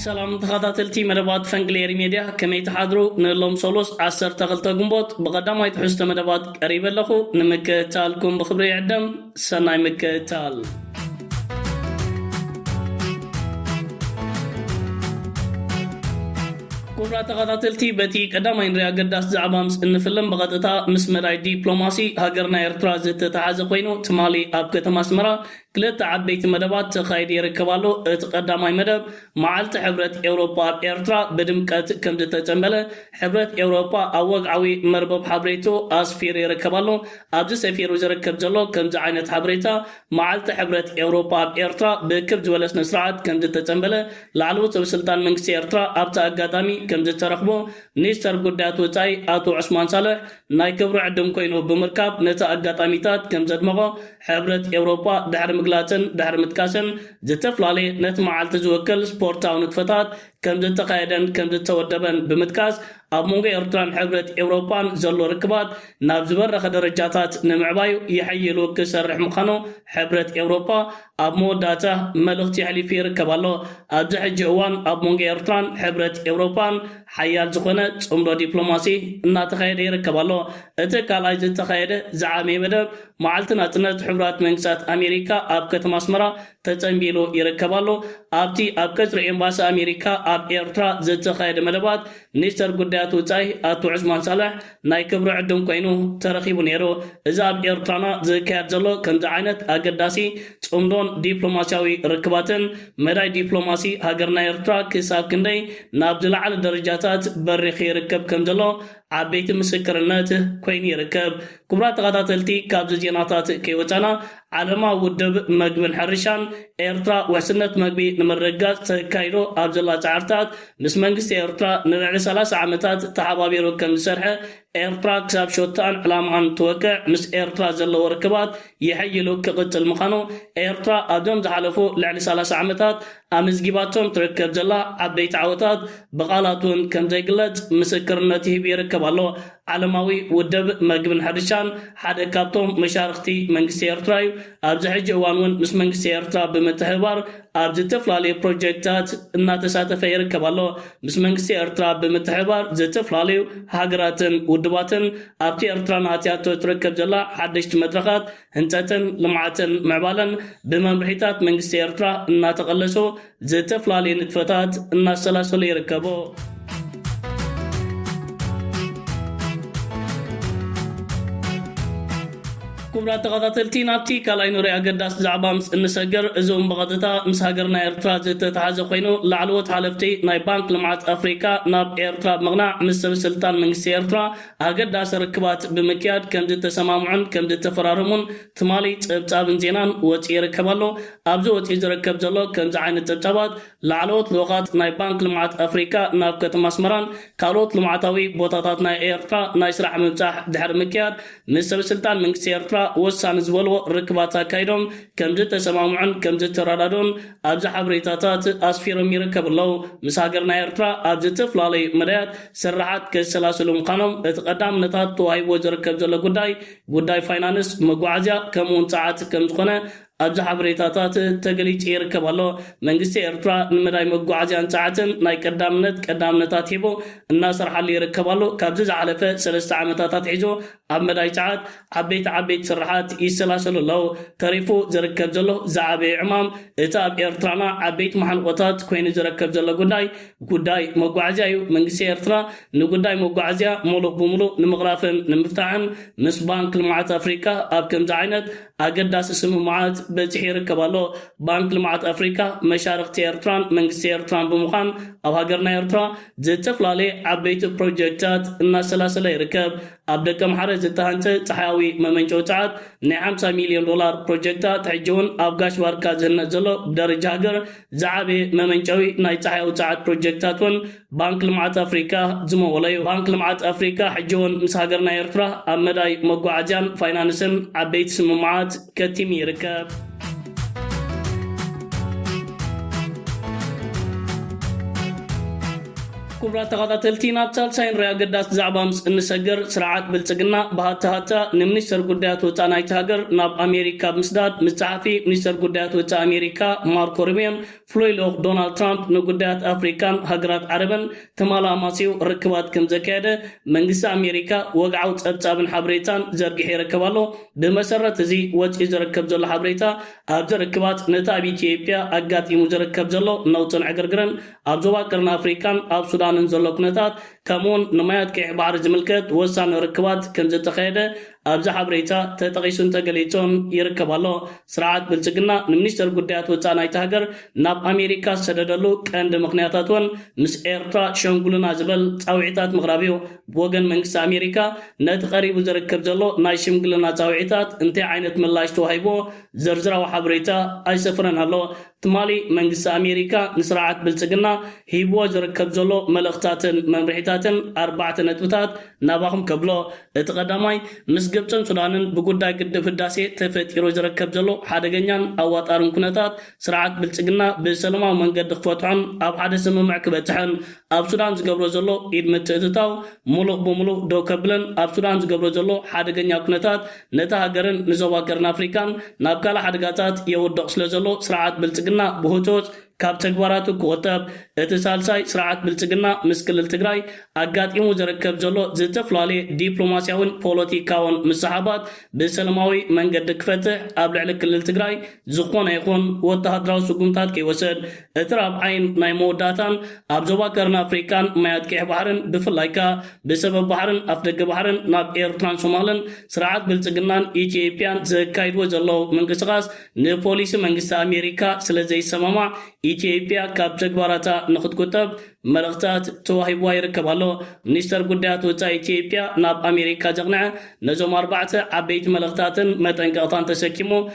ሰላም ተኻታተልቲ መደባት ፈንቅል ኤሪ ሜድያ ከመይ ትሓድሩ ንሎም ሶሉስ ዓሰርተ ክልተ ግንቦት ብቀዳማይ ትሕዝቶ መደባት ቀሪበ ኣለኹ ንምክእታልኩም ብክብሪ ይዕደም ሰናይ ምክእታል ኩቡራት ተኸታተልቲ በቲ ቀዳማይ ንሪኣ ኣገዳሲ ዛዕባ ምስ እንፍልም ብቐጥታ ምስ መዳይ ዲፕሎማሲ ሃገርና ኤርትራ ዝተተሓዘ ኮይኑ ትማሊ ኣብ ከተማ ኣስመራ ክልተ ዓበይቲ መደባት ተኻይዱ ይርከብ ኣሎ። እቲ ቀዳማይ መደብ፣ መዓልቲ ሕብረት ኤውሮጳ ኣብ ኤርትራ ብድምቀት ከምድተጸንበለ ሕብረት ኤውሮጳ ኣብ ወግዓዊ መርበብ ሓብሬትኡ ኣስፊሩ ይርከብ ኣሎ። ኣብዚ ሰፊሩ ዝርከብ ዘሎ ከምዚ ዓይነት ሓበሬታ፣ መዓልቲ ሕብረት ኤውሮጳ ኣብ ኤርትራ ብክብ ዝበለ ስነስርዓት ከምድተጸንበለ ላዕለዎት ሰበስልጣን መንግስቲ ኤርትራ ኣብቲ ኣጋጣሚ ከምዝተረኽቦ ሚኒስተር ጉዳያት ወጻኢ ኣቶ ዑስማን ሳልሕ ናይ ክብሪ ዕድም ኮይኑ ብምርካብ ነቲ ኣጋጣሚታት ከም ዘድመቖ ሕብረት ኤውሮጳ ድሕሪ ምግላጽን ድሕሪ ምጥቃስን፣ ዝተፈላለየ ነቲ መዓልቲ ዝውክል ስፖርታዊ ንጥፈታት ከም ዝተኻየደን ከም ዝተወደበን ብምጥቃስ፣ ኣብ መንጎ ኤርትራን ሕብረት ኤውሮጳን ዘሎ ርክባት ናብ ዝበረኸ ደረጃታት ንምዕባዩ ይሕይሉ ክሰርሕ ምዃኑ ሕብረት ኤውሮጳ ኣብ መወዳእታ መልእኽቲ የሕሊፉ ይርከብ ኣሎ። ኣብዚ ሕጂ እዋን ኣብ መንጎ ኤርትራን ሕብረት ኤውሮጳን ሓያል ዝኾነ ጽምዶ ዲፕሎማሲ እናተኻየደ ይርከብ ኣሎ። እቲ ካልኣይ ዝተኻየደ ዝዓበየ መደብ መዓልቲ ናጽነት ሕቡራት መንግስታት ኣሜሪካ ኣብ ከተማ ኣስመራ ተጸንቢሉ ይርከብ ኣሎ። ኣብቲ ኣብ ቀጽሪ ኤምባሲ ኣሜሪካ ኣብ ኤርትራ ዝተኻየደ መደባት ሚኒስተር ጉዳያት ወጻኢ ኣቶ ዑስማን ሳልሕ ናይ ክብሪ ዕዱም ኮይኑ ተረኺቡ ነይሩ። እዚ ኣብ ኤርትራና ዝካየድ ዘሎ ከምዚ ዓይነት ኣገዳሲ ጽምዶን ዲፕሎማስያዊ ርክባትን፣ መዳይ ዲፕሎማሲ ሃገርና ኤርትራ ክሳብ ክንደይ ናብ ዝለዓለ ደረጃታት በሪኺ ይርከብ ከም ዘሎ ዓበይቲ ምስክርነት ኮይኑ ይርከብ። ክቡራት ተኸታተልቲ ካብዚ ዜናታት ከይወጻና ዓለማዊ ውድብ መግብን ሕርሻን፣ ኤርትራ ውሕስነት መግቢ ንምርግጋጽ ተካይዶ ኣብ ዘላ ጸዕርታት፣ ምስ መንግስቲ ኤርትራ ንልዕሊ ሰላሳ ዓመታት ተሓባቢሩ ከም ዝሰርሐ፣ ኤርትራ ክሳብ ሾትኣን ዕላማኣን እትወቅዕ ምስ ኤርትራ ዘለዎ ርክባት የሐይሉ ክቕጽል ምኻኑ፣ ኤርትራ ኣብዞም ዝሓለፉ ልዕሊ ሰላሳ ዓመታት ኣመዝጊባቶም ትርከብ ዘላ ዓበይቲ ዓወታት ብቓላት እውን ከም ዘይግለጽ ምስክርነት ይህብ ይርከብ ኣሎ። ዓለማዊ ውድብ መግብን ሕርሻን ሓደ ካብቶም መሻርኽቲ መንግስቲ ኤርትራ እዩ። ኣብዚ ሕጂ እዋን እውን ምስ መንግስቲ ኤርትራ ብምትሕብባር ኣብ ዝተፍላለዩ ፕሮጀክታት እናተሳተፈ ይርከብ ኣሎ። ምስ መንግስቲ ኤርትራ ብምትሕብባር ዝተፍላለዩ ሃገራትን ውድባትን ኣብቲ ኤርትራ ንኣትያቶ ትርከብ ዘላ ሓደሽቲ መድረኻት ህንጸትን ልምዓትን ምዕባለን ብመምርሒታት መንግስቲ ኤርትራ እናተቐለሱ ዝተፈላለየ ንጥፈታት እናሰላሰለ ይርከቦ። ክቡራት ተኸታተልቲ ናብቲ ካልኣይ ኑሪ ኣገዳሲ ዛዕባ ምስ እንሰግር እዚ እውን ብቐጥታ ምስ ሃገርና ኤርትራ ዝተተሓዘ ኮይኑ ላዕለዎት ሓለፍቲ ናይ ባንክ ልምዓት ኣፍሪካ ናብ ኤርትራ ብምቕናዕ ምስ ሰበስልጣን መንግስቲ ኤርትራ ኣገዳሲ ርክባት ብምክያድ ከም ዝተሰማምዑን ከም ዝተፈራረሙን ትማሊ ጸብጻብን ዜናን ወጺኡ ይርከብ ኣሎ። ኣብዚ ወጺኡ ዝርከብ ዘሎ ከምዚ ዓይነት ጸብጻባት፣ ላዕለዎት ልኡኻት ናይ ባንክ ልምዓት ኣፍሪቃ ናብ ከተማ ኣስመራን ካልኦት ልምዓታዊ ቦታታት ናይ ኤርትራ ናይ ስራሕ ምብጻሕ ድሕሪ ምክያድ ምስ ሰበስልጣን መንግስቲ ኤርትራ ወሳኒ ዝበልዎ ርክባት ኣካይዶም ከምዝተሰማምዑን ከምዝተረዳድኡን ኣብዚ ሓበሬታታት ኣስፊሮም ይርከቡ ኣለው። ምስ ሃገርና ኤርትራ ኣብ ዝተፈላለዩ መዳያት ስርሓት ከሰላስሉ ምዃኖም እቲ ቀዳምነታት ተዋሂብዎ ዝርከብ ዘሎ ጉዳይ ጉዳይ ፋይናንስ፣ መጓዓዝያ ከምኡ'ውን ጸዓት ከምዝኾነ ኣብዚ ሓበሬታታት ተገሊጹ ይርከብ ኣሎ። መንግስቲ ኤርትራ ንመዳይ መጓዓዝያን ጸዓትን ናይ ቀዳምነት ቀዳምነት ኣትሒቡ እናሰርሓሉ ይርከብ ኣሎ። ካብዚ ዝሓለፈ ሰለስተ ዓመታት ኣትሒዙ ኣብ መዳይ ጸዓት ዓበይቲ ዓበይቲ ስርሓት ይሰላሰሉ ኣለዉ። ተሪፉ ዝርከብ ዘሎ ዝዓበየ ዕማም እቲ ኣብ ኤርትራና ዓበይቲ መሓንቖታት ኮይኑ ዝረከብ ዘሎ ጉዳይ ጉዳይ መጓዓዝያ እዩ። መንግስቲ ኤርትራ ንጉዳይ መጓዓዝያ ሙሉእ ብሙሉእ ንምቕራፍን ንምፍታሕን ምስ ባንክ ልምዓት ኣፍሪቃ ኣብ ከምዚ ዓይነት ኣገዳሲ ስምምዓት በጺሑ ይርከብ ኣሎ። ባንክ ልምዓት ኣፍሪቃ መሻርኽቲ ኤርትራን መንግስቲ ኤርትራን ብምዃን ኣብ ሃገርና ኤርትራ ዝተፍላለየ ዓበይቲ ፕሮጀክታት እናሰላሰለ ይርከብ። ኣብ ደቀምሓረ ዝተሃንጸ ጸሓያዊ መመንጨዊ ጸዓት ናይ ሓምሳ ሚልዮን ዶላር ፕሮጀክታት ሕጂ'ውን ኣብ ጋሽ ባርካ ዝህነጽ ዘሎ ብደረጃ ሃገር ዝዓበየ መመንጨዊ ናይ ጸሓያዊ ጸዓት ፕሮጀክታት እውን ባንክ ልምዓት ኣፍሪካ ዝመወሎ እዩ። ባንክ ልምዓት ኣፍሪካ ሕጂ እውን ምስ ሃገርና ኤርትራ ኣብ መዳይ መጓዓዝያን ፋይናንስን ዓበይቲ ስምምዓት ከቲሙ ይርከብ። ክቡራት ተኻታተልቲ ናብ ሳልሳይን ራይ ኣገዳሲ ዛዕባ ምስ እንሰግር ስርዓት ብልጽግና ብሃታ ሃታ ንሚኒስተር ጉዳያት ወጻእ ናይቲ ሃገር ናብ ኣሜሪካ ብምስዳድ ምስ ጸሓፊ ሚኒስተር ጉዳያት ወጻእ ኣሜሪካ ማርኮ ሩብዮን ፍሉይ ልኡኽ ዶናልድ ትራምፕ ንጉዳያት ኣፍሪካን ሃገራት ዓረብን ተማላማሲው ርክባት ከም ዘካየደ መንግስቲ ኣሜሪካ ወግዓዊ ጸብጻብን ሓበሬታን ዘርጊሑ ይርከብ ኣሎ። ብመሰረት እዚ ወጺኡ ዝርከብ ዘሎ ሓበሬታ ኣብዚ ርክባት ነቲ ኣብ ኢትዮጵያ ኣጋጢሙ ዝርከብ ዘሎ ነውጽን ዕግርግርን ኣብ ዞባ ቀርኒ ኣፍሪቃን ኣብ ሱዳንን ዘሎ ኩነታት ከምኡ'ውን ንማያት ቀይሕ ባሕሪ ዝምልከት ወሳኒ ርክባት ከምዘተኻየደ ኣብዚ ሓበሬታ ተጠቒሱን ተገሊጹን ይርከብ ኣሎ። ስርዓት ብልጽግና ንሚኒስተር ጉዳያት ወጻኢ ናይታ ሃገር ናብ ኣሜሪካ ዝሰደደሉ ቀንዲ ምኽንያታት እውን ምስ ኤርትራ ሸንጉሉና ዝበል ጻውዒታት ምቕራብ እዩ። ብወገን መንግስቲ ኣሜሪካ ነቲ ቀሪቡ ዝርከብ ዘሎ ናይ ሽምግልና ጻውዒታት እንታይ ዓይነት ምላሽ ተዋሂቡዎ ዝርዝራዊ ሓበሬታ ኣይሰፈረን ኣሎ። ትማሊ መንግስቲ ኣሜሪካ ንስርዓት ብልፅግና ሂብዎ ዝርከብ ዘሎ መልእኽታትን መምርሒታትን ኣርባዕተ ነጥብታት ናባኹም ከብሎ። እቲ ቀዳማይ ምስ ግብፅን ሱዳንን ብጉዳይ ግድብ ህዳሴ ተፈጢሩ ዝረከብ ዘሎ ሓደገኛን ኣዋጣርን ኩነታት ስርዓት ብልፅግና ብሰለማዊ መንገዲ ክፈትሖን ኣብ ሓደ ስምምዕ ክበፅሕን ኣብ ሱዳን ዝገብሮ ዘሎ ኢድ ምትእትታው ሙሉእ ብሙሉእ ደው ከብልን ኣብ ሱዳን ዝገብሮ ዘሎ ሓደገኛ ኩነታት ነታ ሃገርን ንዞባ ቀርኒ ኣፍሪቃን ናብ ካልእ ሓደጋታት የውድቕ ስለዘሎ ስርዓት ብልጽግና ብህጹጽ ካብ ተግባራቱ ክቑጠብ። እቲ ሳልሳይ ስርዓት ብልጽግና ምስ ክልል ትግራይ ኣጋጢሙ ዝርከብ ዘሎ ዝተፈላለየ ዲፕሎማስያዊን ፖለቲካውን ምስሕሓባት ብሰለማዊ መንገዲ ክፈትሕ ኣብ ልዕሊ ክልል ትግራይ ዝኾነ ይኹን ወተሃደራዊ ስጉምታት ከይወሰድ፣ እቲ ራብዓይን ናይ መወዳእታን ኣብ ዞባ ቀርኒ ኣፍሪቃን ማያት ቀይሕ ባሕርን ብፍላይ ከኣ ብሰበብ ባሕርን ኣፍደገ ባሕርን ናብ ኤርትራን ሶማልን ስርዓት ብልጽግናን ኢትዮጵያን ዘካይድዎ ዘለዉ ምንቅስቓስ ንፖሊሲ መንግስቲ ኣሜሪካ ስለዘይሰማማዕ ኢትዮጵያ ካብ ተግባራታ ንኽትቁጠብ መልእኽታት ተዋሂብዋ ይርከብ ኣሎ። ሚኒስተር ጉዳያት ወጻኢ ኢትዮጵያ ናብ ኣሜሪካ ዘቕንዐ ነዞም ኣርባዕተ ዓበይቲ መልእኽታትን መጠንቀቕታን ተሰኪሙ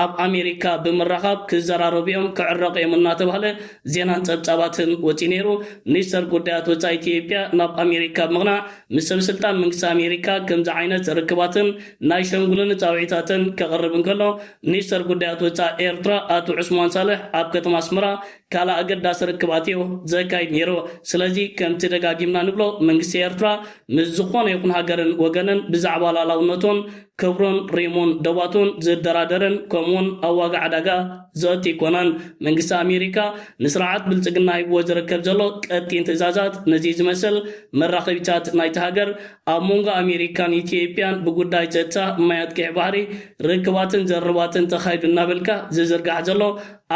ኣብ ኣሜሪካ ብምራኻብ ክዘራረቡ'ዮም ክዕረቑ'ዮም እናተባህለ ዜናን ጸብጻባትን ወጺኡ ነይሩ። ሚኒስተር ጉዳያት ወጻኢ ኢትዮጵያ ናብ ኣሜሪካ ብምቕናዕ ምስ ሰበስልጣን መንግስቲ ኣሜሪካ ከምዚ ዓይነት ርክባትን ናይ ሸምግሉኒ ጻውዒታትን ከቕርብ እንከሎ፣ ሚኒስተር ጉዳያት ወጻኢ ኤርትራ ኣቶ ዑስማን ሳልሕ ኣብ ከተማ ኣስመራ ካልእ ኣገዳሲ ርክባትዮ ዘካይድ ነይሩ። ስለዚ ከምቲ ደጋጊምና ንብሎ መንግስቲ ኤርትራ ምስ ዝኾነ ይኹን ሃገርን ወገንን ብዛዕባ ላእላውነቱን ክብሩን ሪሙን ዶባቱን ዝደራደርን ከምኡውን ኣብ ዋጋ ዕዳጋ ዘእቱ ኣይኮነን። መንግስቲ ኣሜሪካ ንስርዓት ብልጽግና ሂብዎ ዝርከብ ዘሎ ቀጢን ትእዛዛት ነዚ ዝመስል መራኸቢታት ናይቲ ሃገር ኣብ መንጎ ኣሜሪካን ኢትዮጵያን ብጉዳይ ጸጥታ ማያት ቀይሕ ባሕሪ ርክባትን ዘርርባትን ተኻይዱ እናበልካ ዝዝርጋሕ ዘሎ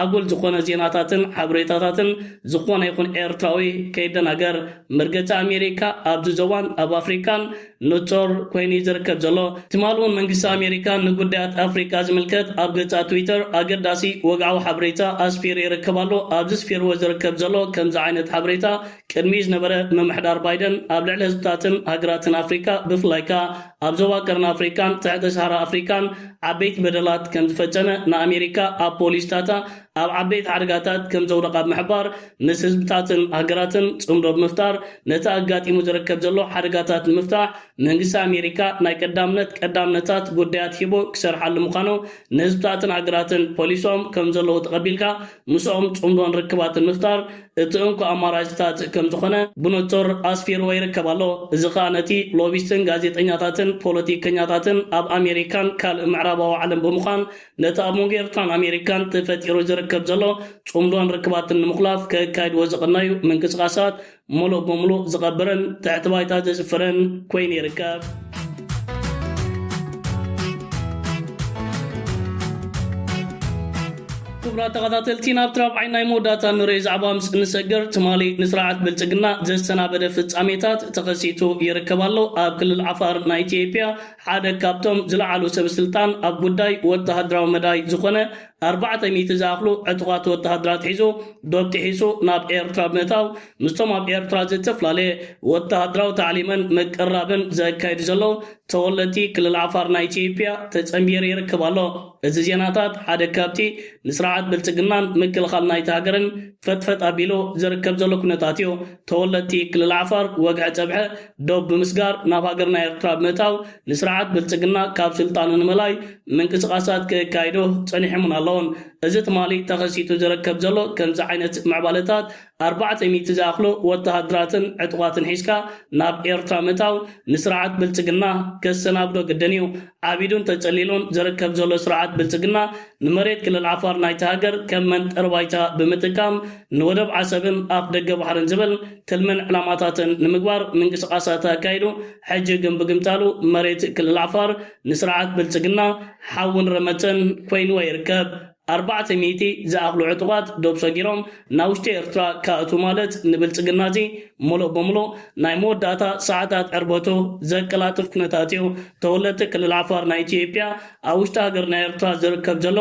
ኣጉል ዝኾነ ዜናታትን ሓብሬታታትን ዝኾነ ይኹን ኤርትራዊ ከይደናገር መርገጺ ኣሜሪካ ኣብዚ ዞባን ኣብ ኣፍሪቃን ንጹር ኮይኑ እዩ ዝርከብ ዘሎ ትማሊ እውን መንግስቲ ኣሜሪካ ንጉዳያት ኣፍሪቃ ዝምልከት ኣብ ገጻ ትዊተር ኣገዳሲ ወግዓዊ ሓብሬታ ኣስፊሩ ይርከብ ኣሎ ኣብዚ ስፊርዎ ዝርከብ ዘሎ ከምዚ ዓይነት ሓብሬታ ቅድሚኡ ዝነበረ ምምሕዳር ባይደን ኣብ ልዕሊ ህዝብታትን ሃገራትን ኣፍሪቃ ብፍላይ ከኣ ኣብ ዞባ ቀርኒ ኣፍሪቃን ትሕተ ሰሃራ ኣፍሪቃን ዓበይቲ በደላት ከም ዝፈጸመ ንኣሜሪካ ኣብ ፖሊሲታታ ኣብ ዓበይቲ ሓደጋታት ከም ዘውደቓ ብምሕባር ምስ ህዝብታትን ሃገራትን ጽምዶ ብምፍጣር ነቲ ኣጋጢሙ ዝርከብ ዘሎ ሓደጋታት ንምፍታሕ መንግስቲ ኣሜሪካ ናይ ቀዳምነት ቀዳምነታት ጉዳያት ሂቡ ክሰርሓሉ ምዃኑ ንህዝብታትን ሃገራትን ፖሊሶም ከም ዘለዉ ተቐቢልካ ምስኦም ጽምዶን ርክባትን ምፍጣር እቲ እንኮ ኣማራጭታት ከም ዝኾነ ብንጹር ኣስፊርዎ ይርከብ ኣሎ። እዚ ከኣ ነቲ ሎቢስትን ጋዜጠኛታትን ፖለቲከኛታትን ኣብ ኣሜሪካን ካልእ ምዕራባዊ ዓለም ብምዃን ነቲ ኣብ መንጎ ኤርትራን ኣሜሪካን ተፈጢሩ ዝርከብ ዘሎ ጽምዶን ርክባትን ንምኹላፍ ከካይድዎ ዝቐነዩ ምንቅስቓሳት ሙሉእ ብሙሉእ ዝቐብርን ትሕቲ ባይታ ዘስፍርን ኮይኑ ይርከብ። ክቡራት ተኸታተልቲ ናብቲ ራብዓይ ናይ መወዳእታ ንሪኦ ዛዕባ ምስ እንሰግር ትማሊ ንስርዓት ብልፅግና ዘሰናበደ ፍጻሜታት ተኸሲቱ ይርከብ ኣሎ። ኣብ ክልል ዓፋር ናይ ኢትዮጵያ ሓደ ካብቶም ዝለዓሉ ሰበስልጣን ኣብ ጉዳይ ወተሃደራዊ መዳይ ዝኾነ ኣርባዕተ ሚእቲ ዝኣኽሉ ዕጡቓት ወተሃደራት ሒዙ ዶብ ጥሒሱ ናብ ኤርትራ ብምእታው ምስቶም ኣብ ኤርትራ ዝተፈላለየ ወተሃደራዊ ታዕሊምን ምቅርራብን ዘካይዱ ዘለዉ ተወለድቲ ክልል ዓፋር ናይ ኢትዮጵያ ተጸንቢሩ ይርከብ ኣሎ። እዚ ዜናታት ሓደ ካብቲ ንስርዓት ብልጽግናን ምክልኻል ናይታ ሃገርን ፈጥፈጥ ኣቢሉ ዝርከብ ዘሎ ኩነታት እዩ። ተወለድቲ ክልል ዓፋር ወግሐ ጸብሐ ዶብ ብምስጋር ናብ ሃገርና ኤርትራ ብምእታው ንስርዓት ብልጽግና ካብ ስልጣኑ ንምእላይ ምንቅስቓሳት ክካይዶ ጸኒሖምን ኣለዉን። እዚ ትማሊ ተኸሲቱ ዝረከብ ዘሎ ከምዚ ዓይነት ምዕባለታት፣ ኣርባዕተ ሚእቲ ዝኣኽሉ ወተሃደራትን ዕጡቓትን ሒዝካ ናብ ኤርትራ ምእታው፣ ንስርዓት ብልጽግና ከሰናብዶ ግድን እዩ። ዓቢዱን ተጸሊሉን ዝርከብ ዘሎ ስርዓት ብልጽግና፣ ንመሬት ክልል ዓፋር ናይታ ሃገር ከም መንጠሪ ባይታ ብምጥቃም፣ ንወደብ ዓሰብን ኣፍ ደገ ባሕርን ዝብል ትልምን ዕላማታትን ንምግባር ምንቅስቓሳት ኣካይዱ፣ ሕጂ ግን ብግምጣሉ መሬት ክልል ዓፋር ንስርዓት ብልጽግና ሓውን ረመጽን ኮይንዎ ይርከብ። ኣርባዕተ ሚእቲ ዝኣኽሉ ዕጡቓት ዶብ ሰጊሮም ናብ ውሽጢ ኤርትራ ክኣትዉ ማለት ንብልጽግና'ዚ ምሉእ ብምሉእ ናይ መወዳእታ ሰዓታት ዕርበቱ ዘቀላጥፍ ኩነታት'ዩ። ተወለድቲ ክልል ዓፋር ናይ ኢትዮጵያ ኣብ ውሽጢ ሃገርና ኤርትራ ዝርከብ ዘሎ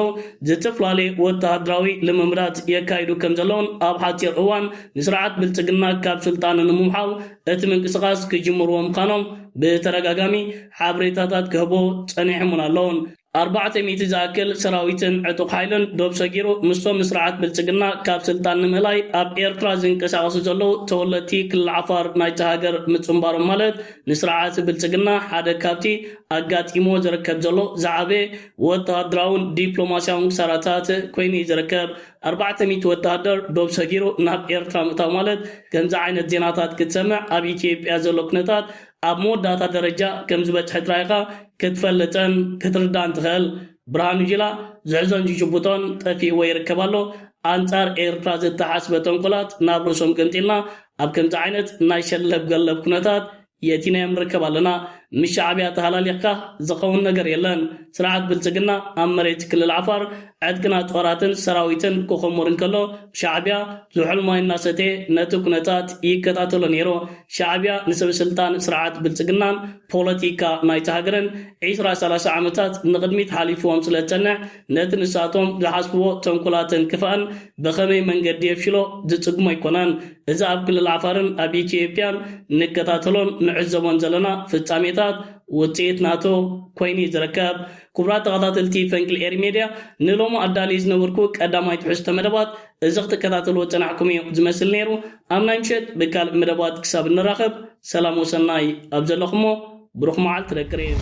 ዝትፍላለየ ወተሃደራዊ ልምምዳት የካይዱ ከም ዘለዉን ኣብ ሓጺር እዋን ንስርዓት ብልጽግና ካብ ስልጣኑ ንምውሓው እቲ ምንቅስቓስ ክጅምርዎ ምዃኖም ብተደጋጋሚ ሓበሬታታት ክህቡ ጸኒሖምን ኣለዉን። ኣርባዕተ ሚእቲ ዝኣክል ሰራዊትን ዕጡቕ ሓይልን ዶብ ሰጊሩ ምስቶም ንስርዓት ብልጽግና ካብ ስልጣን ንምእላይ ኣብ ኤርትራ ዝንቀሳቐሱ ዘለዉ ተወለድቲ ክልል ዓፋር ናይታ ሃገር ምጽንባሮም ማለት ንስርዓት ብልጽግና ሓደ ካብቲ ኣጋጢምዎ ዝርከብ ዘሎ ዝዓበየ ወተሃደራውን ዲፕሎማስያውን ክሳራታት ኮይኑ እዩ ዝርከብ። ኣርባዕተ ሚእቲ ወተሃደር ዶብ ሰጊሩ ናብ ኤርትራ ምእታው ማለት ከምዚ ዓይነት ዜናታት ክትሰምዕ ኣብ ኢትዮጵያ ዘሎ ኩነታት ኣብ መወዳእታ ደረጃ ከም ዝበጽሐ ጥራይ ኢኻ ክትፈልጥን ክትርዳእን ትኸእል። ብርሃኑ ጁላ ዝሕዞን ዝጭቡጦን ጠፊእዎ ይርከብ ኣሎ። ኣንጻር ኤርትራ ዝተሓስበ ተንኮላት ናብ ርእሶም ገንጢልና ኣብ ከምዚ ዓይነት ናይ ሸለብ ገለብ ኩነታት የእቲናዮም ንርከብ ኣለና። ምስ ሻዕብያ ተሃላሊኽካ ዝኸውን ነገር የለን። ስርዓት ብልጽግና ኣብ መሬት ክልል ዓፋር ዕጥቅና ጦራትን ሰራዊትን ክኹሙር እንከሎ ሻዕቢያ ዝሑል ማይ እናሰተየ ነቲ ኩነታት ይከታተሎ ነይሩ። ሻዕቢያ ንሰበስልጣን ስርዓት ብልፅግናን ፖለቲካ ናይታ ሃገርን ዒስራ ሰላሳ ዓመታት ንቕድሚት ሓሊፉዎም ስለዝፀንሕ ነቲ ንሳቶም ዝሓስቡዎ ተንኮላትን ክፋእን ብኸመይ መንገዲ የፍሽሎ ዝፅግሞ ኣይኮነን። እዚ ኣብ ክልል ዓፋርን ኣብ ኢትዮጵያን ንከታተሎን ንዕዘቦን ዘለና ፍፃሜታት ውፅኢት ናቱ ኮይኑ እዩ ዝርከብ። ክቡራት ተኸታተልቲ ፈንቅል ኤሪ ሜድያ ንሎሚ ኣዳልየ ዝነበርኩ ቀዳማይ ትሕዝቶ መደባት እዚ ክትከታተልዎ ዝጸናሕኩም እዩ ዝመስል ነይሩ። ኣብ ናይ ምሸት ብካልእ መደባት ክሳብ እንራኸብ ሰላም ወሰናይ ኣብ ዘለኹሞ ብሩኽ መዓልቲ ደቂ ሪም።